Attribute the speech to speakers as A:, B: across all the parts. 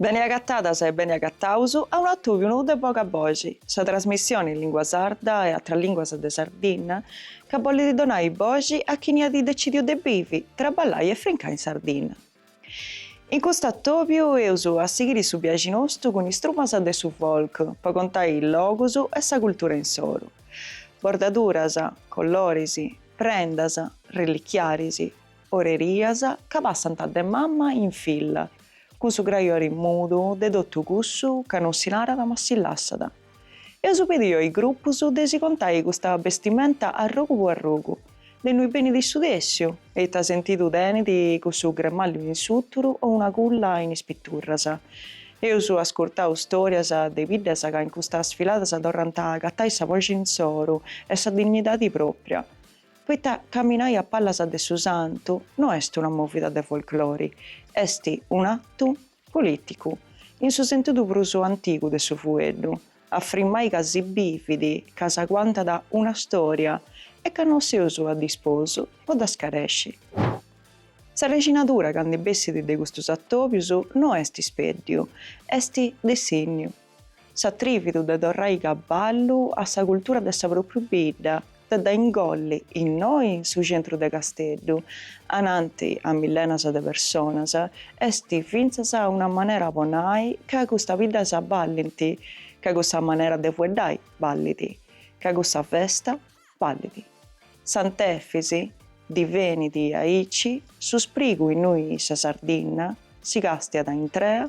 A: Bene agatadas e bene agataus a unu atùviu nou de Boga Boxi, sa trasmissione in lìngua sarda e atras lìnguas de Sardinna chi bollit donai boxi a chini at decidiu de bivi, traballai e frimai in Sardinna. In custu atòbiu eus a sighiri su biaxi nostu cun is trumas de su folk po contai is logus e sa cultura insoru. Bordaduras, colloris, prendas, relichiaris, orerias chi passant de mama in filla cun su grajori mudu de totu cussu chi non si narat ma si lassat. Eus pediu a is grupus de si contai custa bestimenta arrogu po arrogu, de innui benit su tessiu e ita sentidu tenit cussu gremallu in su tzugu o un'agulla in is piturras. Eus ascurtau storias de biddas chi in custas sfiladas torrant a agatai sa boxi insoru e sa dignidadi propria, poita caminai a pallas de su santu no est una movida de folklori, est un'atu Polìticu, in su sentidu prus antigu de su fueddu, a frimmai ca si bivit, ca s'aguantat una stòria e ca no seus a disposu po dda scaresci. Sa rexinadura chi ndi bessit de custus atòbius no est speddiu, est dissènniu. S'atrividu de torrai a donai ballu a sa cultura de sa propriu bidda, de dda ingolli innoi in su centru de Casteddu, ananti a millenas de personas, est fintzas una manera po nai ca custas biddas ballint, ca cussa manera de fueddai ballit, ca cussa festa ballit. Sant'Efis divenit aici su sprigu innui sa Sardinna si castiat intrea,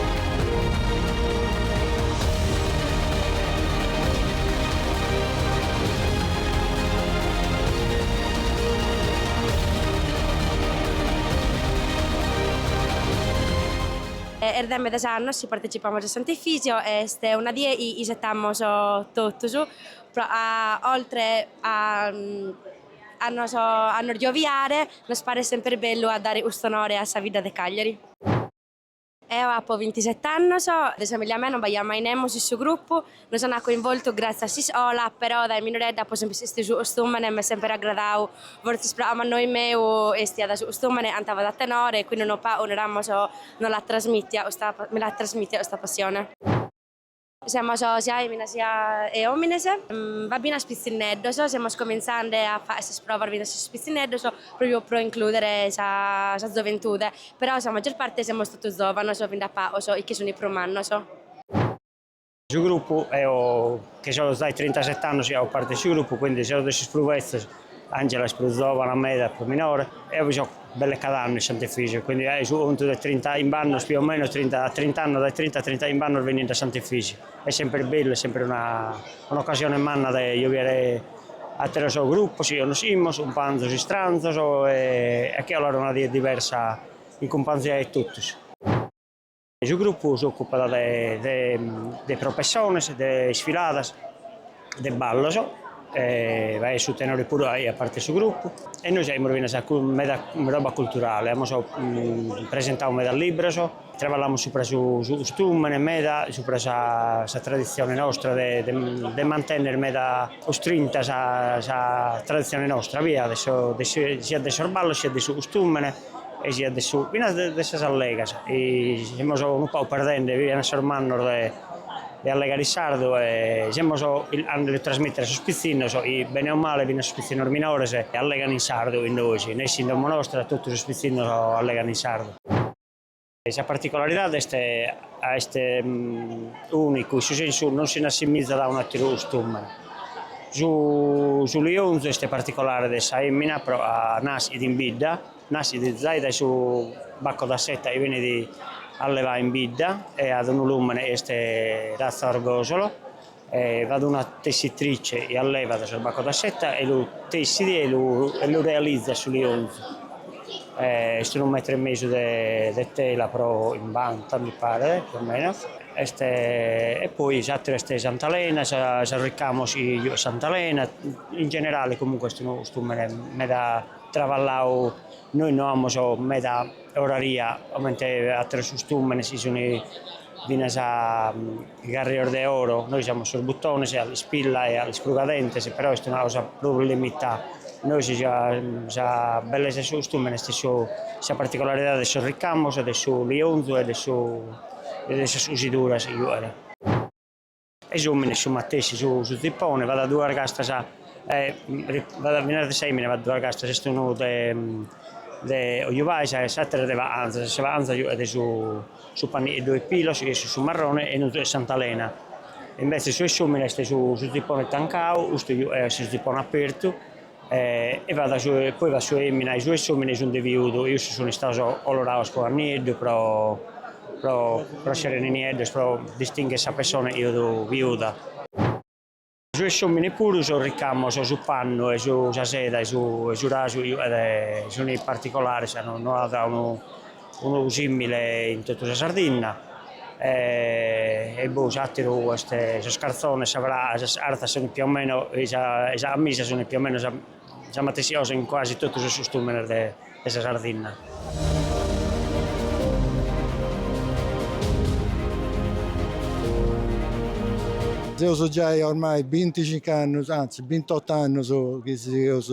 A: Est de medas annos chi partecipamus a Sant'Efisio e est una die chi isetamus totus oltre a a nos a nos gioviare nos paret semper bellu a dare cust'onore a sa vidda de Cagliari. Eo apo bintisete annos, de familia mea non b'aiat mai nemus in su grupu, nos ant coinvoltu gratzie a s'iscola, però dae minoredda apo semper bestidu su costumene, m'est semper agradadu, fortzis proa mannoi meu estiat su costumene, cantavat a tenore e quindi unu pagu, naramos, no l'at trasmitia custa, mi l'at trasmitia custa passione. Semus siat fèminas siat òmines, b'at finas pitzinneddos, semus comintzende a faghere sas provas fintzas sos pitzinneddos pròpriu pro inclùdere sa sa zoventude, però sa maggior parte semus totu zòvanos bi nd'at pagos chi sunt prus mannos. Su grupu, eo chi so zai trintaset'annos chi fago parte 'e su grupu, quindi seo de sos prus betzos, Angela est prus zòvana meda e prus minore. Eo bi so belle cad'annu in Sant'Efisu, quindi faghe su contu de trintachimb'annos più o meno, trinta trint'annos, dae trinta a trintachimb'annos bennind' a Sant'Efisu. Est semper bellu, est semper una un'occasione manna de addobiare atteros gruppos chi connoscimmos, cumpanzos istranzos e a che 'olare una die diversa in cumpanzia 'e tottus. Su grupu s'òcupat de propessiones, de isfiladas, de ballos, b'at su tenore puru faghet parte 'e su grupu e nois faghimus finas meda roba culturale, amus presentadu meda libros, traballamus supra su su custumene meda, supra sa sa traditzione nostra de de mantenner meda custrinta sa sa traditzione nostra, siat de sos siat de sos ballos siat de su custumene e siat de su finas de sas allegas semus unu pagu perdende finas a sos mannos de allegare sardu e semus andende a trasmittere a sos pitzinnos chi bene o male finas sos pitzinnos minores allegano in sardu in nois nessi in domo nostra totu sos pitzinnos allegano in sardu. Sa particolaridade est ca est ùnicu, in su sensu non si n'assimizat a un'àteru custùmene. Su lionzu est particolare de sa fèmina pro ca naschet in bidda, naschet zai dae su baco da seta chi benit allevadu in bidda e at unu lùmene chi est ratza Orgòsolo. B'at una tessitrice e allevat sos bacos da seta e lu tessit e lu e lu realizat su lionzu. Est unu metru e mesu de de tela pro chimbanta mi paret, più o meno, est e poi s'ateru est s'antalena, sos sos ricamos chi giughet s'antalena, in generale comunque est unu custumene meda traballau, nois no amus meda oraria comente ateros custumenes chi sun finas Garrios de oro, nois amus sos butones e s'ispilla e s'isprugadentes, però est una cosa prus limitada. Nois sa sa bellesa 'e su custumene est su sa particolaridade de sos ricamos e de su lionzu e de su e de sas cusiduras chi faghen. E sos òmines su matessi, su su zipone b'at duas castas e b'at finas de sa 'emina b'at duas castas, est unu de de cojubadas e s'ateru de baganzas, sa baganza giughet su Su pannitzu 'e pilos ch'est su marrone e non est Sant'Alene, invetze su 'e s'omine est su zippone tancau, custu est su zippone apertu e fa poi fa su 'e emina e su 'e s'omine sun de viudu e issos sun istaos coloraos cun annieddu pro pro pro essere nieddos pro distinghere sa persona chi fit viuda. Su 'e s'omine puru sos ricamos, su pannu e su sa seda e su e su rasu sune particolares ca no at unu unu simile in totu sa Sardinna e e boh s'ateru est sos carzones sa pra sas arzas sun più o meno e sa e sa amisa sun più o meno sa matessi cosa in quasi totu sos custumenes de 'e sa Sardinna. Seus giai ormai binticincu annus, anzi bintottu annus chi seus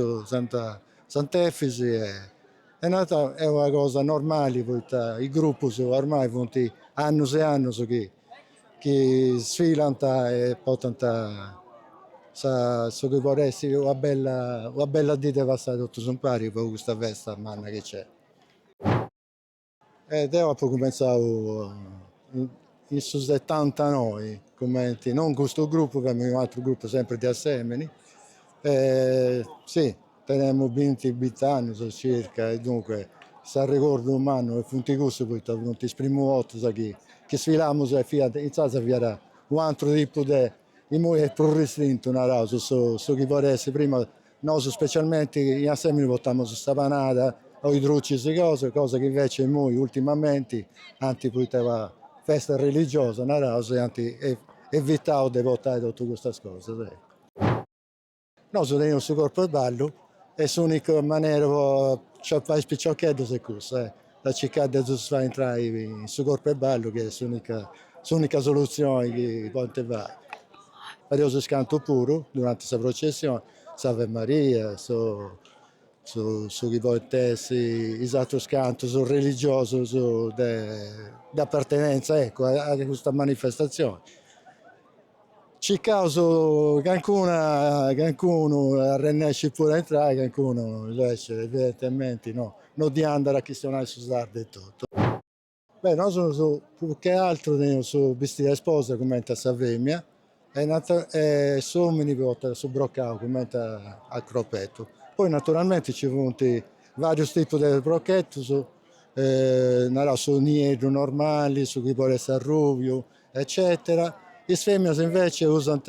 A: Sant'Efis e narat est una cosa normali poita is grupus ormai funt annus e annus chi chi sfilant e portant sa su chi podet essi una bella una bella dì de passai totus impari po custa festa manna chi nc'est. E deu apu cumenzau in su setantanoi cumenti, non custu gruppu femu in unu atru gruppu sempri de Assemini e sì Tenemus binti bint'annus circa e dunque is arregordus mannus funt cussus poita funt is primus bortas chi chi sfilamus e fiant intzaras fiat u' antru tipu de imoi est prus ristrintu naraus su su chi podit essi prima nosu specialmenti in Assemini portamus sa panada o is drucis e cosa cosa chi invece imoi ultimamenti anti poita una festa religiosa naraus e anti evitau de portai totu custas cosas eccu. Nosu teneus su corpu 'e ballu e s'unica manera po aciapai is piciocheddus est cussa de circai de ddus fai intrai in su corpu 'e ballu chi est s'unica s'unica soluzioni chi podint fai. Fadeus is cantus puru duranti sa processioni, s'Ave Maria, su su su chi podint essi is atrus cantus religiosus de de appartenenza ecco a custa manifestazioni Circaus calincuna calincunu arrennescit puru a intrai calincunu invece evidentementi no no ddi andat a chistionai su sardu etotu. Beh nosus prus che atru teneus su bistidu a isposa cumenti a femina e nata e s'omini portat su brocau cumenti a cropetu. Poi naturalmenti ci funt varius tipus de brochetus naraus su nieddu normali, su chi podit essi arrubiu eccètera. Is fèminas invece usant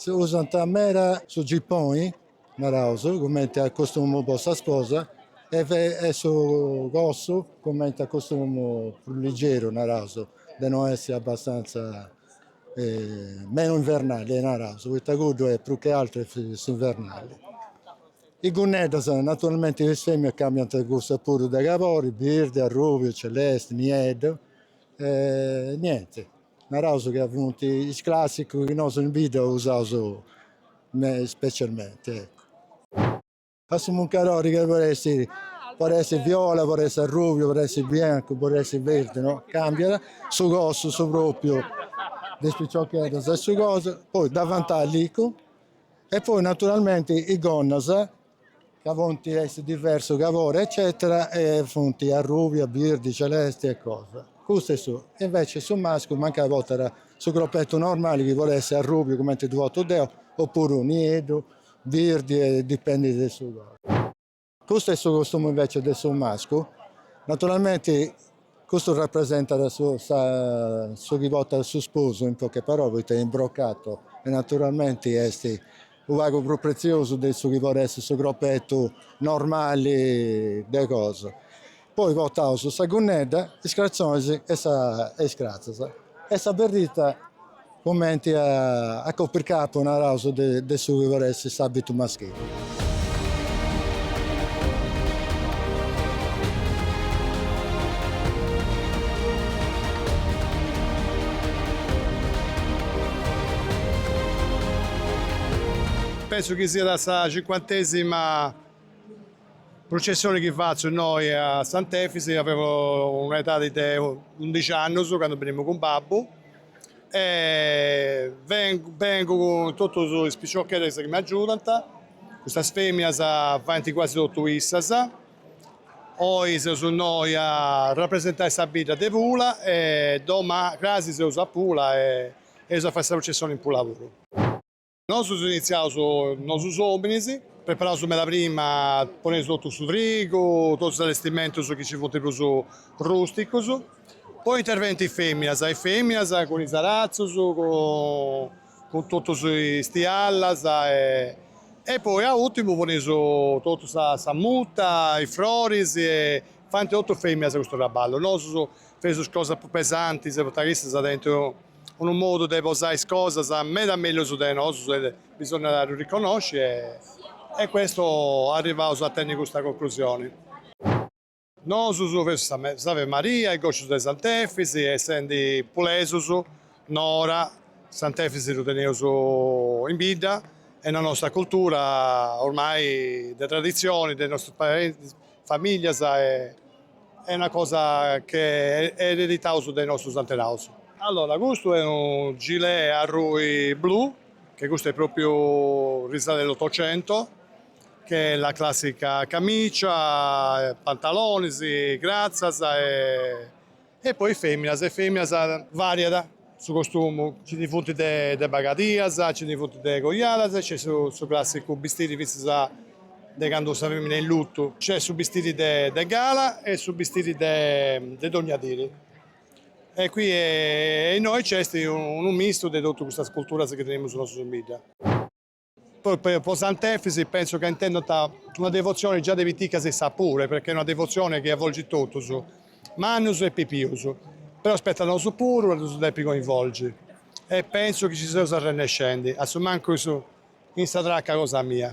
A: usant meda su gipponi, naraus, cumenti a costumu po sa sposa e su cossu cumenti a costumu prus ligeru, naraus, de no essi abbastantza menu invernali, naraus, poita cuddu est prus che aturu est s'invernali. Is gunneddas, naturalmenti is fèminas cambiant cussas puru de cabori, birdi, arrubiu, celesti, nieddu E niente, naraus ca funt is classicus chi nosu in bidda usaus specialmenti su muncadori che podit essi, podit essi viola, podit essi arrubiu, podit essi biancu, podit essi verdi, no, cambiat su cossu, su propriu de is piciocheddas e su cosa, poi davantali e poi naturalmenti is gonnas ca funt de diversu cabori eccetera e funt arrubia birdi celesti e cosa custu est su e invece su mascu mancai potat su croppettu normali chi podet essi arrubiu cumenti ddu pottu deo o puru nieddu birdi e dipendit de su colori custu est su costumu invece de su mascu naturalmenti Custu rapresentat su chi portat su sposu, in poche parole, poita in brocato e naturalmenti est unu pagu prus pretziosu de su chi podet essi su cropetu normali de cosa. Poi portaus sa gunnedda, is cratzonis e is cratzas. E sa berrita cumenti a copircapu naraus de su chi podet essi s'abitu maschili. Pensu chi siat sa cincuantesima. Prucessioni chi fatzu innoi a Sant'Efisi, tenemu un'edadi de undixi annus candu benimu cun babbu e bengu cun totus is piciocheddus chi m'agiudant, custas feminas faint quasi totu issas, oi seus innoi a rapresentai sa bidda de Pula e domani crasi seus a Pula e eus a fai sa prucessioni in Pula puru. Nosu seus initziaus nosu is ominis, preparaus meda prima, poneus totu su trigu, totus is allestimentus chi ci funt prus rusticus, poi intervenint is feminas, is feminas cun is aratzus, cun totus is tiallas e poi a urtimu poneus totu sa mutta, is froris e faint totu is feminas custu traballu, nosu feus is cosas prus pesantis poita chi issas tenint unu modu de posai is cosas meda mellus de nosus e bisonniat a ddu riconnosci e custu arrivaus a tenni custa conclusioni. Nosus feus s'Ave Maria e gòscius de Sant'Efis e essendi pulesus Nora Sant'Efis ddu teneus in bidda e in sa nostra cultura ormai de traditzioni de nostas famìllias e Est una cosa chi ereditaus de nostus antenaus. Allora custu est unu gilet arrùbiu blu che custu est propriu risalit a s'ottocento che est la classica camicia, pantalonis, cratzas e poi feminas e feminas variat Su costumu, nci ndi funt de bagadias, nci ndi funt de cojadas e nc'est su clàssicu bistiri fintzas de candu sa fèmina est in lutu. Nc'est su bistiri de gala e su bistiri de dònnia diri. E qui e innoi nc'est unu mistu de totus custas culturas chi teneus nosu in bidda. Po Sant'Efis penso ca intendant una devotzione già de piticas issas puru, perchè est una devotzione chi avvolgit totus, mannus e pipius, però spetta a nosu puru a ddus depi coinvolgi e penso chi ci seus arrennescendi, a su mancu in sa traca cosa mia.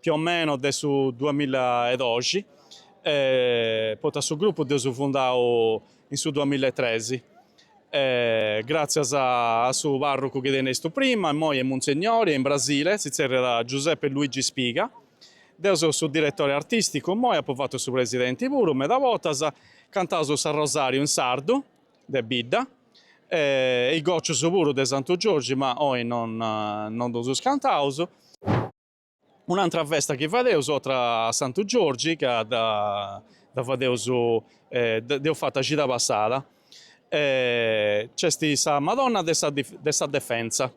A: più o meno de su duamilla e doxi, poita su grupu dd'eus fundau in su duamilla e tresi, gràtzias a su pàrrucu chi tenestus prima, immoi est munsegnori, est in Brasile, si tzerriat Giuseppe Luigi Spiga, deu seu su diretore artìsticu immoi, apu fatu su presidenti puru meda bortas, cantaus s'arrosàriu in sardu de bidda e is gòcius puru de Santu Giorgi, ma oi non non ddus cantaus. Un'antra festa chi fadeus otra a Santu Giorgi ca dda fadeus dd'eus fata cida passada nc'est sa Madonna de sa de sa Defensa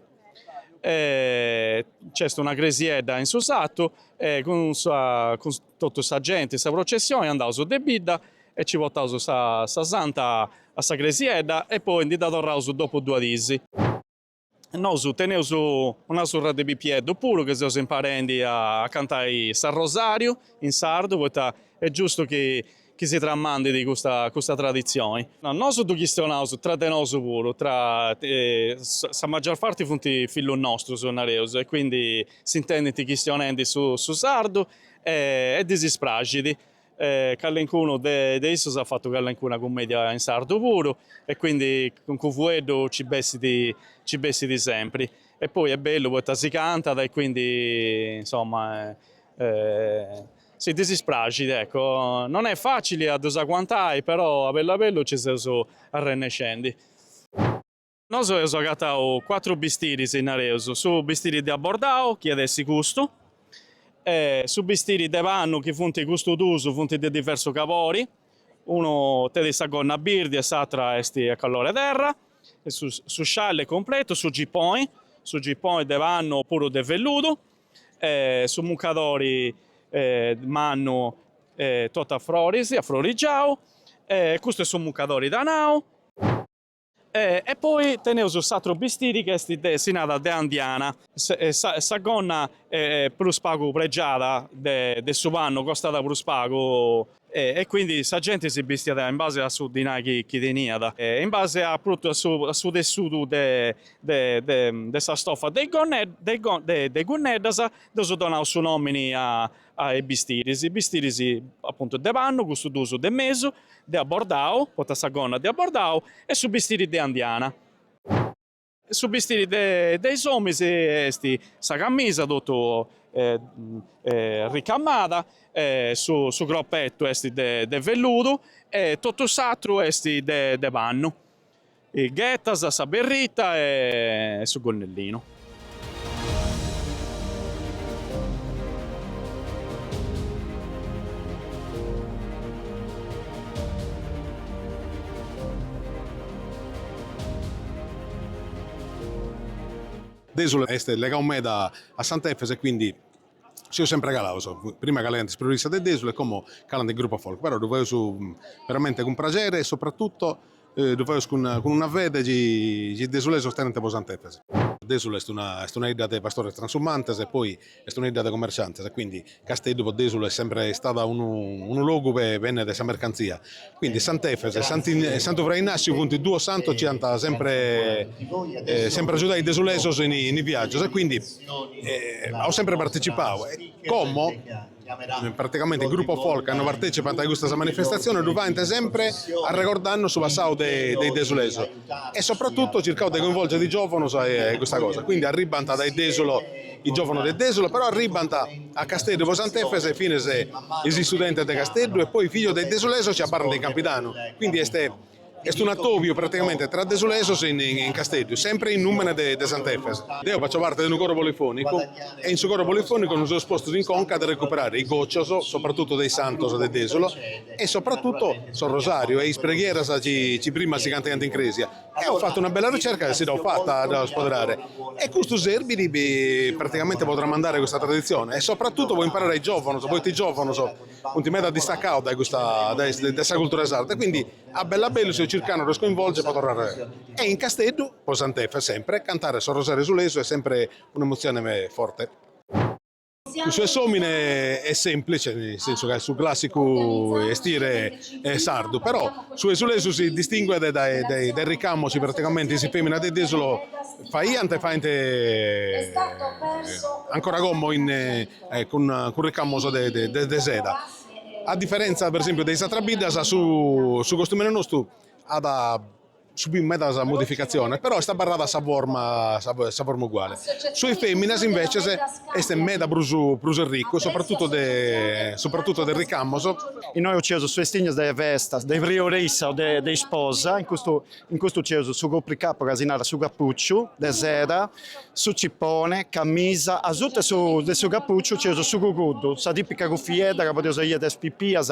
A: nc'est una cresiedda in su sartu e cun sa cun totu sa genti sa processioni andaus de bidda e ci portaus sa sa Santa a sa cresiedda e poi ndi dda torraus dopu duas dis. Nosu teneus una surra de pipieddu puru chi seus imparendi a cantai s'arrosàriu in sardu poita est giustu chi si tramandit custa custa traditzioni. Nosu ddu chistionaus tra de nosu puru, tra sa magior parti funt fillus nostrus, nareus, e quindi s'intendint chistionendi su sardu e ddis praxit. E callencunu de de issus at fatu callencuna cummedia in sardu puru e quindi cuncu fueddu ci bessit ci bessit sempri e poi est bellu poita si cantat e quindi insomma si ddis praxit ecco. Non est facili a ddus aguantai però a bellu a bellu ci seus arrennescendi. Nosu eus agatau cuatru bistiris, nareus, su bistiri de abordau, chi at essi custu, e su bistiri de pannu, chi funt custu duus, funt de diversu cabori, unu tenit sa gonna birdi e s'atra est a calori terra, su su scialli completu, su giponi, su giponi de pannu o puru de velludu, e su muncadori mannu totu a froris, a frorigiau, e custu est su muncadori dorau. E e poi teneus s'atru bistiri chi est de si narat de andiana, sa gonna prus pagu pregiada de de su pannu costat prus pagu e quindi sa genti si bistiat in base a su dinai chi chi teniat e in base a prus a totu a su tessudu de de de de sa stoffa de is gonnedda de is de is gunneddas dd'eus donau su nomini a A is bistiris, bistiris apuntu de pannu, custus duus de mesu, de abordau, poita sa gonna de abordau, e su bistiri de andiana. Su bistiri de de is òminis est sa camisa totu ricamada, su su cropetu est de de velludu e totu s'atru est de de pannu. Is ghetas sa berrita e su gonnellinu. Dèsulu est legau meda a Sant'Efis e quindi Seus sempre calaus, prima calaiant is protestas de Dèsulu e como calant is grupos folk, però ddu faeus veramente cun praxeri e sopratutto ddu faeus cun una fede chi is desulesos tenent po is santos. Dèsulu est una est una 'idda de pastores transumantes e poi est una 'idda de commerciantes e quindi Casteddu po Dèsulu est sempre istau unu unu logu po bènnere sa mercantzia Quindi Sant'Efes e Santu Fra Innassiu funt duos santos chi ant sempre sempre agiudau is desulesos in is viagios e quindi ant sempre partecipau e como praticamente is gruppos folk candu partecipant a custas manifestaziones ddu faint sempre arregordanno su passau de is desulesos e soprattutto circant de coinvolgere is giovanos a custa cosa quindi arribbant dae Desulo is giovanos de Desulo però arribbant a Casteddu po Sant'Efes finas is istudentes de Casteddu e poi fijos de is desulesos chi abarrant in Campidanu quindi est est un attobiu praticamente tra desulesos in in Casteddu sempre in numene de de Sant'Efes deo fatzo parte de unu coro polifonicu e in su coro polifonicu nos seus postos in conca de recuperare is gocios soprattutto de is santos de Desulo e soprattutto sos rosariu e is preghieras chi prima si cantaiant in cresia. Eo fatto una bella ricerca e si dd'ho fatta a iscuadra, e custu serbit praticamente po tramandare custa traditzione e soprattutto po imparare a is giòvanos, poita is giòvanos funt meda distacados dae custa dae sa cultura sarda, quindi a bellu a bellu seus circando de ddos coinvolgere po torrare e in Casteddu po Sant'Efis sempre cantare su rosariu desulesu est sempre un'emotzione forte. Cussu 'e s'omine est semplice, nel sensu ca est su classicu estire sardu, però su desulesu si distinguet dae is ricamos praticamente is feminas de Desulo faiant e faint ancora como cun ricamos de seda. A diferentza per esempiu de is atras biddas su costumene nostu at subiu medas modificatziones, però est abarrada sa forma sa forma uguale. Su 'e fèminas invècias est meda prus prus arricu, sopratutu de sopratutu de ricamos. Innoe nc'eus su 'estire de festas, de prioressa o de de isposa, in custu in custu nc'eus su copricapu ca si narat su cappucciu, de seda, su cipone, camisa, asuta de su de su cappucciu nc'eus su cuguddu, sa tipica cuffiedda ca podeus biere a is pipias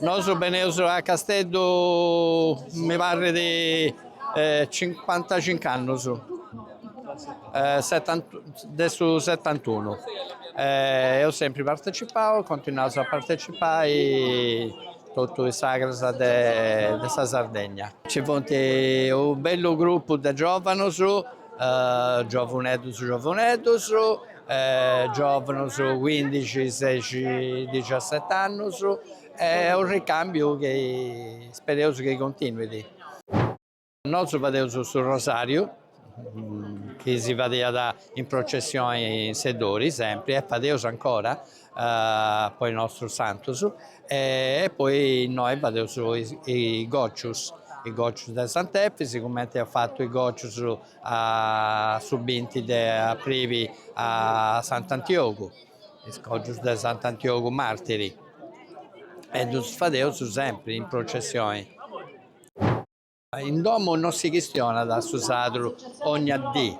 A: Nosu beneus a Casteddu mi parrit cincuantacincu annus, de su setantunu, eus sempri partecipau e continuaus a partecipai totu is sagras de sa Sardegna. Nci funt unu bellu grupu de giovanus Giovuneddos giovuneddos giòvanos cuindixi sexi dixiasete annos e unu ricàmbiu chi ispereus chi continuet. Nosu fadeus su rosàriu chi si fadiat in processioni in Seddori sempri e fadeus ancora po is nostrus santus e poi innoi fadeus is gòcius, is gòcius de Sant'Efis cumenti eus fatu is gòcius a su binti de abribi a Sant'Antiogu, is gòcius de Sant'Antiogu martiri e ddus fadeus sempri in processioni. In domu no si chistionat su sardu ogna dì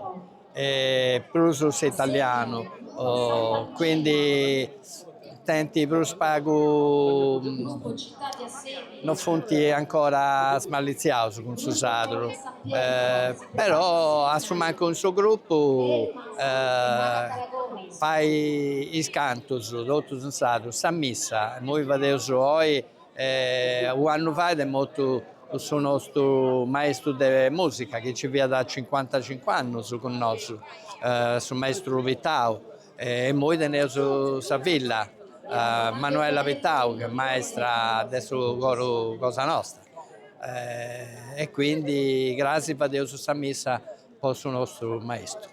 A: e prus s'italianu, quindi tenint prus pagu, no funt ancora smalliziaus cun su sardu, però a su mancu in su grupu fai is cantus totus in sardu, sa missa imui fadeus oi E unu annu fait est mortu su nostu maestru de musica chi nci fiat cincuantacincu annus cun nosu, su maestru Pittau, e immoi teneus sa filla Manuela Pittau chi est maestra de su coru cosa nostra e quindi cras fadeus sa missa po su nostru maestru.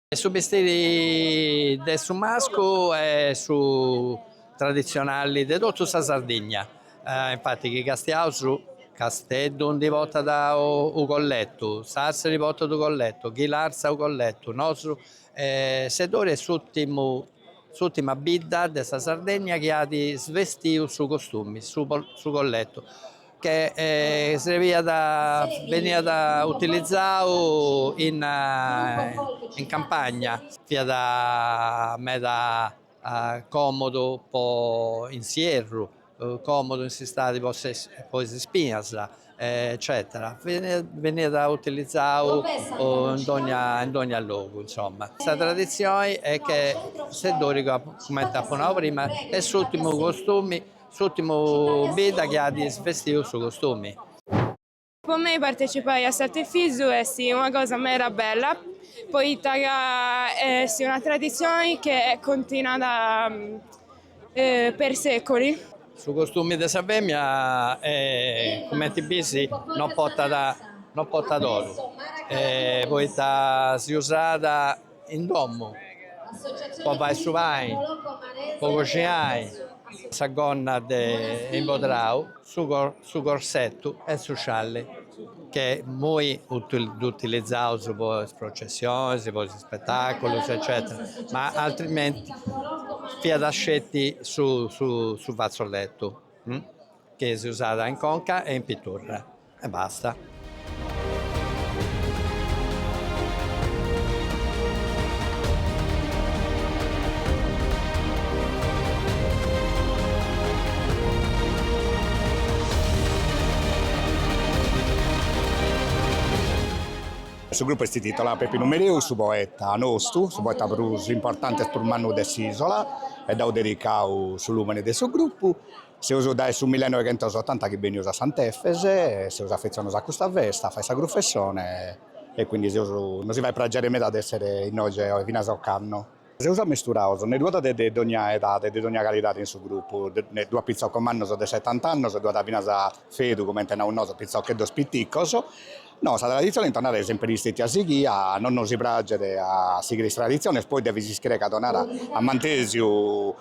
A: E su bistiri de su mascu est su traditzionali de totu sa Sardigna, infati chi castiaus, Casteddu ndi portat u' colletu, Sassari portat u' colletu, Ghilarza u' colletu, nosu, Seddori est s'urtimu, s'urtima bidda de sa Sardigna chi at svestiu su costumi, su su colletu che srebiat beniat utilizau in in campagna, fiat meda comodu po in s'ierru, comodu in s'istadi po po is ispinas eccetera, beniat utilizau in dogna in dogna logu insomma. Sa traditzioni est che Seddori comente apo nau prima est s'urtimu costumi S'ùrtimu bidda chi at isvestidu su costumi. Po mei partecipai a Sant'Efis est una cosa meda bella poita ca est una traditzioni chi est continuada per seculi. Su costumi de sa femina cumenti bis no potat no potat oru poita si usat In domo po fai su pani, po coxinai sa gonna de imbodrau, su corsettu e su scialli che immoi ddu utilizaus po is processionis, po is spetaculus eccetera, ma altrimenti fiat sceti su fazzolettu chi si usat in conca e in pitorra e basta. Su grupu est titolau Peppinu Mereu, su poeta nostu, su poeta prus importanti e prus mannu de s'Isola e dd'aus dedicau su lumene de su grupu. Seus dae su millenoighentosottanta chi benius a Sant'Efes, seus afetzionaos a custa festa, fait sa grufessone e quindi seus, nos si fait pragere meda de essere innoge finas ocannu. Seus ammisturaos nde ddu at de de dogna edade e de dogna calidade in su grupu, ddu at pitzoccos mannos de settant'annos e ddu at finas fedu comente naus nosu, pitzocheddos piticos, No, sa traditzione in Tonara est sèmpere istètia sighia, no, nos praget a sighire is traditziones, poi devis ischire ca Tonara at mantèsiu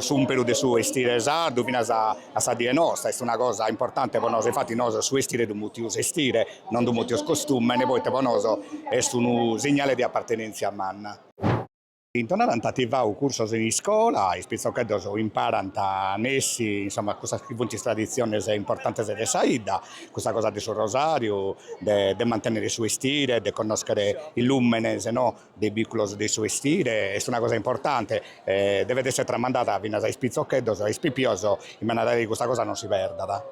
A: s'ùmperu de su estire sardu finas a sa die nosta, est una cosa importante po nosu, infatis nosu a su estire ddu mutius estire, non ddu mutius costumene, poita po nosu est unu segnale de apartenèntzia manna. In Tonara ant ativau cursos in iscola, is pitzocheddos imparant a nessi insomma cussas chi funt is traditziones importantes de sa 'idda, custa cosa de su rosàriu, de de mantennere su 'estire, de connoschere is lùmenes no de is bìculos de su 'estire, est una cosa importante e devet essere tramandada finas a is pitzocheddos e a is pipios in manera tale chi custa cosa non si perdat.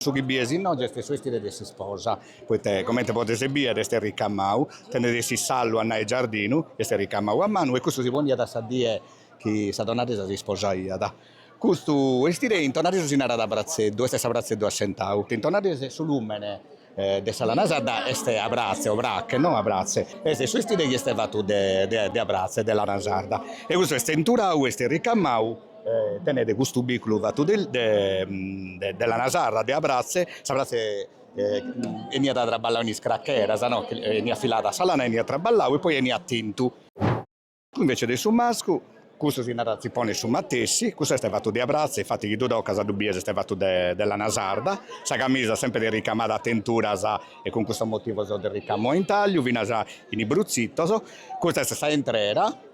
A: Su chi bides inoghe est su estire de s'isposa, poita comente podes bider est ricamau, tenet s'isallu a nai giardinu, est ricamau a manu e custu si poniat a sa die chi sa donna de sa si sposaiat. Custu estire in tonaresu si narat bratzeddu, est s'abratzeddu assentau, chi in tonaresu su lumene de sa lana sarda est abratze obrache, no abratze, est su estire chi est fatu de abratze, de lana sarda e custu est tenturau, est ricamau Tenet custu bìculu fatu de lana sarda, de abratze, s'abratze 'eniat traballau in is cracheras, no, eniat filada sa lana, eniat traballau e poi eniat tintu. Invece de su mascu, cussu si narat zippone su matessi, cussu est fatu de abratze, infati chi ddu tocas ddu bies est fatu de lana sarda, sa camisa sempre est ricamada a tenturas e cun custos motivos de ricamo a intagliu finas in is bruzzitos, custa est sa 'entrera.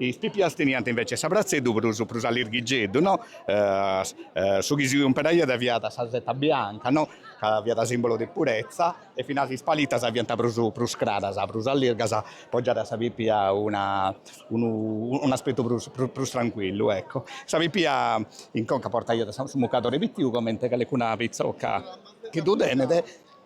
A: Is pipias teniant invece s'abratzeddu prus prus allirghigeddu, no? Su chi s'umperaiat fiat sa seta bianca, no? Ca fiat simbolo de purezza e finas is palitas fiant prus prus craras, prus allirgas, po giare a sa pipia una unu un'aspettu prus prus tranquillu, ecco. Sa pipia in conca portaiat su mucadore pitiu comente calecuna pitzoca chi ddu tenet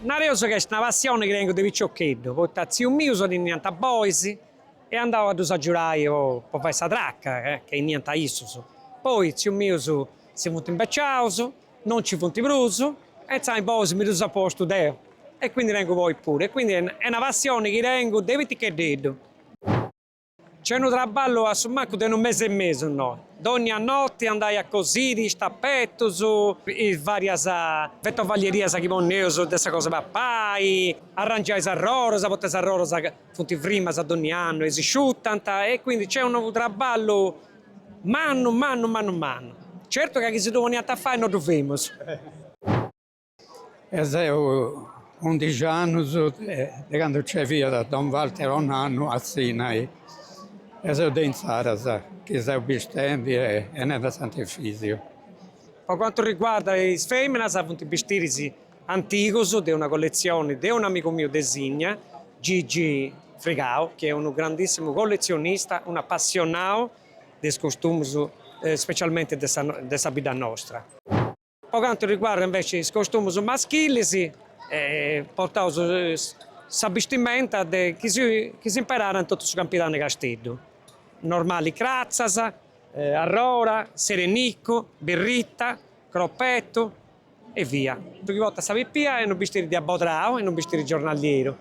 A: Nareus ca est una passioni chi tengu de piciocheddu, poita tzius mius teniant bois e andau a ddus agiudai po fai sa traca ca 'eniant issus, poi tzius mius si funt imbeciaus, non nci funt prus e intzà is bois mi ddus apu postu deu e quindi tengu bois puru e quindi est una passioni chi tengu de piticheddeddu. Nc'est unu traballu a su mancu de unu mese e mesu no, dònnia noti andai a cosiri is tapetus, is vàrias vetovallierias chi ponneus de sa cosa 'e papai, arrangiai is arroras, poita is arroras funt frimas dònnia annu e si sciutant, e quindi nc'est unu traballu mannu mannu mannu mannu. Certu ca chi si ddu poniant a fai no ddu femus. E seu undixi annus de candu nce fiat don Walter Onano a Sìnnia e seu de inzaras chi seu bistendi e benendi a Sant'Efisiu. Po cantu riguardat is feminas funt bistiris antigus de una colletzioni de un'amigu miu de Sìnnia, Gigi Frigau, chi est unu grandissimu colletzionista, un' apassionau de is costumus specialmenti de sa bidda nostra. Po cantu riguardat inveci is costumus maschilis, portaus sa bistimenta de chi s'imperàt in totu su Campidanu 'e Casteddu, normali cratzas, arroda, sereniccu, birritta, croppettu e via. Su chi portat sa pipia est unu bistiri de abodrau est unu bistiri giornalieru.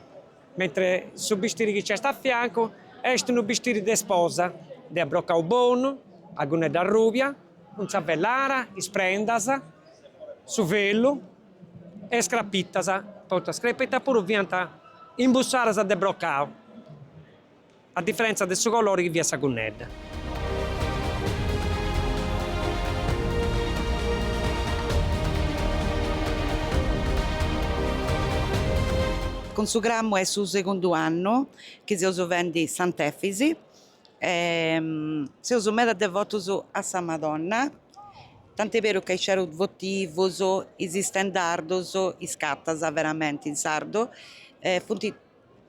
A: mentre su bistiri chi c'est a fiancu est unu bistiri de sposa, de abrocau bonu, sa gunnedda arrùbia, cun sa vellara, is prendas, su velu e is crapitas, poita is crapitas puru fiant imbussadas de brocau. A diferentza de su colori chi fiat sa cunnedda. Cun su Cramu est su segundu annu chi seus fendi Sant'Efis e seus meda devotus a sa Madonna, tant'est berus ca is cerus votivus, is istendardus, is càntus veramenti in sardu, funt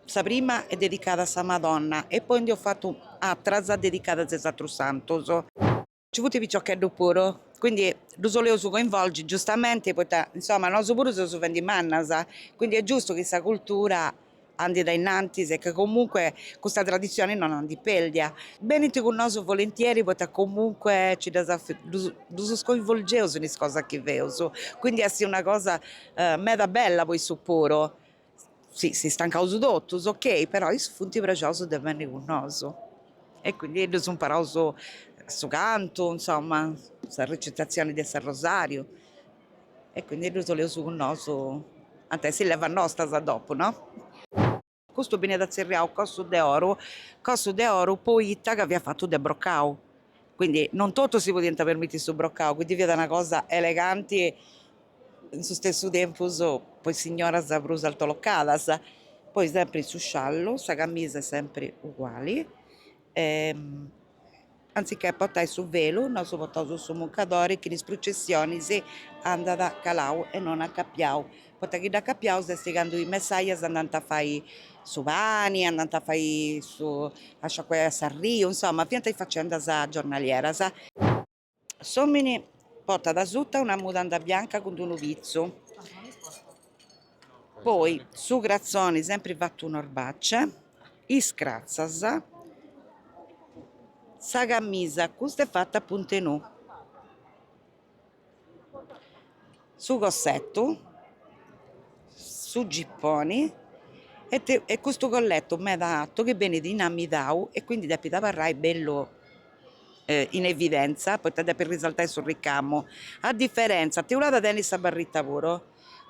A: Sa prima est dedicada a sa Madonna e poi nd'eus fatu atras dedicadas a is atrus santus. Nci funt is piciocheddus puru, quindi ddus 'oleus coinvolgi giustamenti poita, insoma, nosu puru seus fendi mannas, quindi est giustu chi sa cultura andit a innantis e che comunque custa traditzioni non andit pérdia. Benint cun nosu volentieri poita comunque nci ddas ddus coinvolgeus in is cosas chi feus, quindi est una cosa meda bella po issu puru Si si stancaus totus ok, però issus funt prexaus de benni cun nosu e quindi ddus imparaus su cantu, insomma, sa recitazioni de s'arrosariu e quindi ddus oleus cun nosu ant a essi levas nostas a dopu, no. Custu benit atzerriau cossu de oru, cossu de oru poita ca fiat fatu de brocau, quindi non totus si podiant permitti su brocau, quindi fiat una cosa eleganti in su stessu tempus po is signoras prus altolocadas, poi sempri su sciallu, sa camisa est sempri uguali e anzichè portai su velu nosu portaus su muncadori chi in is prucessionis andat calau e non acapiau, poita chi dd'acapiaus est candu is messajas andant a fai su pani, andant a fai su a sciacuai a s'arriu, insoma fiant is facendas giornalieras. S'omini portat asuta una mudanda bianca cun d'unu pitzu, poi su cratzoni sempri fattu in orbace, is cratzas, sa camisa, custa est fatta a punt'e nù. su cossetu, su gipponi e custu colletu meda atu chi benit inamidau e quindi depit abarrai bellu in evidenza poita depit risaltai su ricamu, a differenza, Teulada tenit sa barrita puru,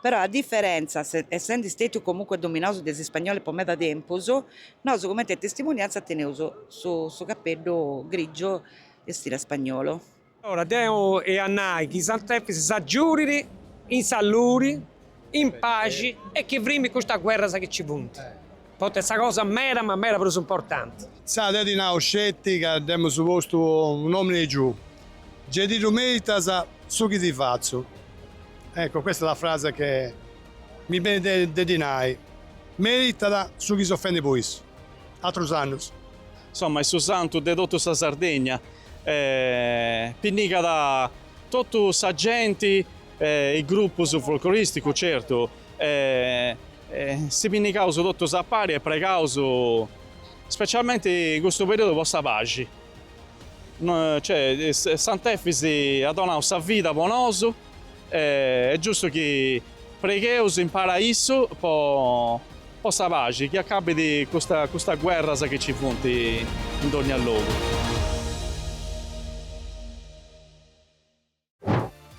A: però a differenza essendi stetiu comunque dominaus de is ispagnolis po meda tempus, nosu cumenti a testimonianza teneus su su capeddu grigiu in stile spagnolu Allora deu em'a nai chi Sant'Efis s'agiurit in saluri, in paxi e chi frimit custas guerras chi ci funt, poita est sa cosa meda ma meda prus importanti. Sa deu ti nau sceti ca dd'emus postu unu nomini e giu, ge ti ddu meritas su chi ti fatzu. Ecco, questa la frase che mi benit de ti nai, meritat su chi seus fendi po issu, atrus annus. insomma est su santu de totu sa Sardegna e pinnigat totu sa genti e is grupus folcloristicus certu e si pinnigaus totus a pari e pregaus specialmenti in custu periodu po sa paxi cioè Sant'Efis at donau sa vida po nosu e est giustu chi pregheus impari a issu po Po sa paxi chi acabit custa custas guerras chi ci funt in dogna logu.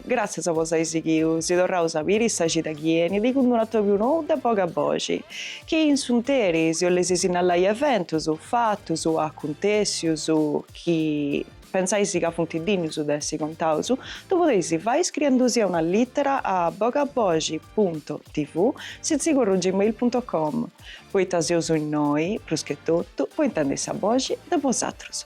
A: Gràtzias po s'ai sighiu, si torraus a biri sa cida chi enit cun d'unu atobiu nou de boga boxi, chi in s'unteri si 'oleis sinnalai eventus, fatus, acuntèssius chi, Pensais ca funt dinnus de essi contaus, ddu podeis fai iscriendusì una lìtera a bogaboxi punto tv sitzigorru gmail punto com, poita seus innoi, pruschetotu, po intendi sa boxi de bosatrus.